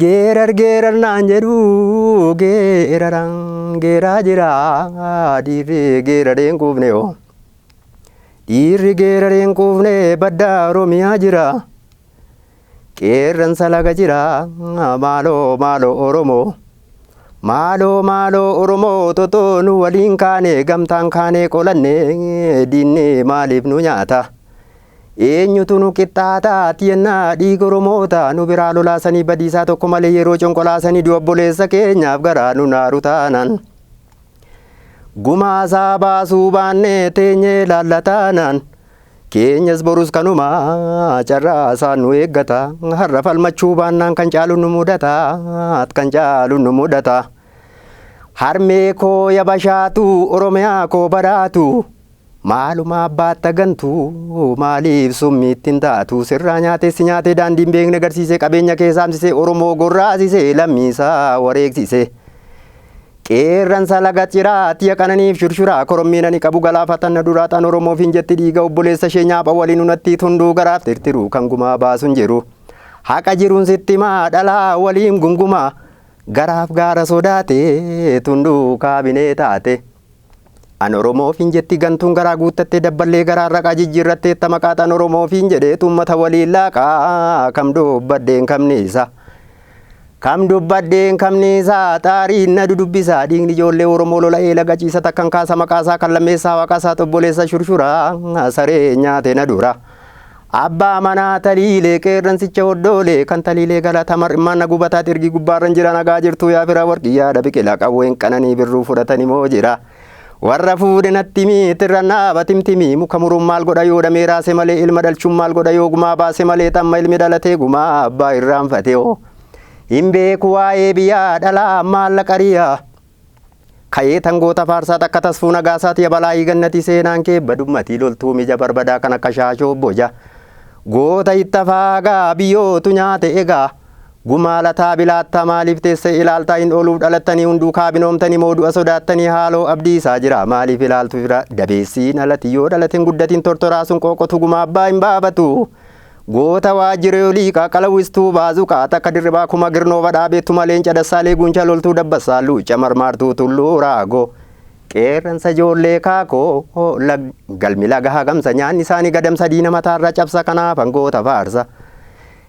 Geerar geerar naan jedhu geerara geeraa jira dhiirri geeraree hin quufne oo. Dhiirri geeraree hin quufne badda Oromiyaa jira. Qeerransa laga jira maaloo maaloo Oromoo. Maaloo maaloo Oromoo totoo nu waliin kaane gamtaan kaanee qolanne diinni maaliif nu nyaata. Eenyutu nu qixxaata ati yennaa dhiiga Oromoota nu biraa lolaasanii badiisaa tokko malee yeroo conqolaasanii du'a obboleessa keenyaaf garaa nu naaru taanaan. Gumaa isaa baasuu baannee teenyee ilaalla taanaan. Keenyas borus kanuma carraa isaan nu eeggata har'a falmachuu baannaan kan caalu nu mudata kan caalu nu mudata. Harmee koo yabashaatu Oromiyaa koo baraatu. Maalumaa baatta gantuu maaliif summiitti hin taatu sirraa nyaatee si nyaatee daandii hin beekne garsiisee qabeenya kee saamsisee Oromoo gorraasisee lammii isaa wareegsisee Qeerransa laga ciraa tiya qananiif shurshuraa korommii nani qabu galaafatan na duraa xan Oromoof hin jetti dhiiga obboleessa ishee nyaapha waliin unattii tunduu garaaf tirtiruu kan gumaa baasu hin jiru haqa jiruun sitti himaa dhalaa waliin gungumaa garaaf gaara sodaatee tunduu kaabinee taate. An Oromoo ofiin jetti gantuun garaa guuttattee dabballee garaan raqaa jijjiirratteetta maqaaxan Oromoo ofiin jedheetu ummata waliin laaqaa kam dubbadheen kamniisa kam dubbadheen kamniisa xaariin na dudubbisaa dhiigni ijoollee Oromoo lola'ee laga ciisa takkan kaasa maqaasaa kan lammeessaa waaqaasaa xobboleessa shurshura saree nyaate na dura. Abbaa manaa taliilee qeerransicha hoddoolee kan taliilee galata mar'immaan na gubataa xirgii gubbaarran jira nagaa jirtuu yaa fira warqii yaada biqila qawween qananii birruu fudhatani moo jira warra fuudhe nattimii tirran dhaaba timtimii muka muruun maal godha yoo dhamee raase malee ilma dhalchuun maal godha yoo gumaa baase malee xamma ilmi dhalatee gumaa abbaa irraanfate oo hin beeku waa'ee biyyaa dhalaa maallaqa riyaa. Kayee tan goota faarsaa takka tasfuu nagaasaat ya balaayii gannatii seenaan kee badummatii loltuu mija barbadaa kan akka shaashoo boja goota itta faagaa biyyootu nyaate egaa gumaa lataa bilaattaa maaliif teessee ilaaltaa hin ooluuf dhalattanii hunduu kaabinoomtanii moo du'a sodaattanii haaloo abdii isaa jira maaliif ilaaltu fira dabeessiin alati yoo dhalate hin guddatiin tortoraa sun qooqotu gumaa abbaa hin baafatu Goota Waajjiree Olii Qaaqala Wistuu Baazuqaa Takka Dirribaa Kuma Girnoo Badhaa Beettuma Leenca Dassaalee Guuncha Loltuu Dabbassaa Luucca Marmaartuu Tulluu Raagoo Qeerransa Ijoollee Kaakoo Lag Galmi Laga Hagamsa Nyaanni Isaanii Gadamsa Diina Mataarra Cabsa Kanaafan Goota Faarsa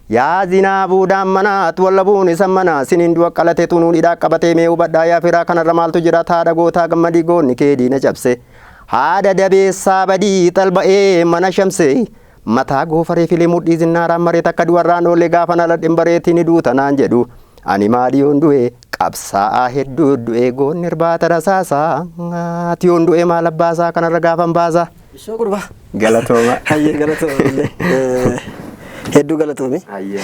Yaa Zinaabuu Daammanaa At Wallabuun Isan Manaa Siniin Du'a Qalate Tunuun Hidhaa Qabatee Mee Hubadhaa Yaa Firaa Kanarra Maaltu Jira Haadha Gootaa Gammadii Goonni Kee Diina Cabse Haadha Dabeessaa Badii Xalba'ee Mana Shamsee Mataa goofaree filee mudhii zinnaaraan maree takka du'arraan oole gaafan aladhen bareetii ni duuta naan jedhu. Ani maali yoon du'e qabsaa'aa hedduu du'e goonni irbaata rasaasaati yoon du'e maal abbaasaa kanarra gaafan baasa. Ishoo gurbaa. Galatooma. Hayyee galatooma illee. Hedduu galatoomi. Hayyee.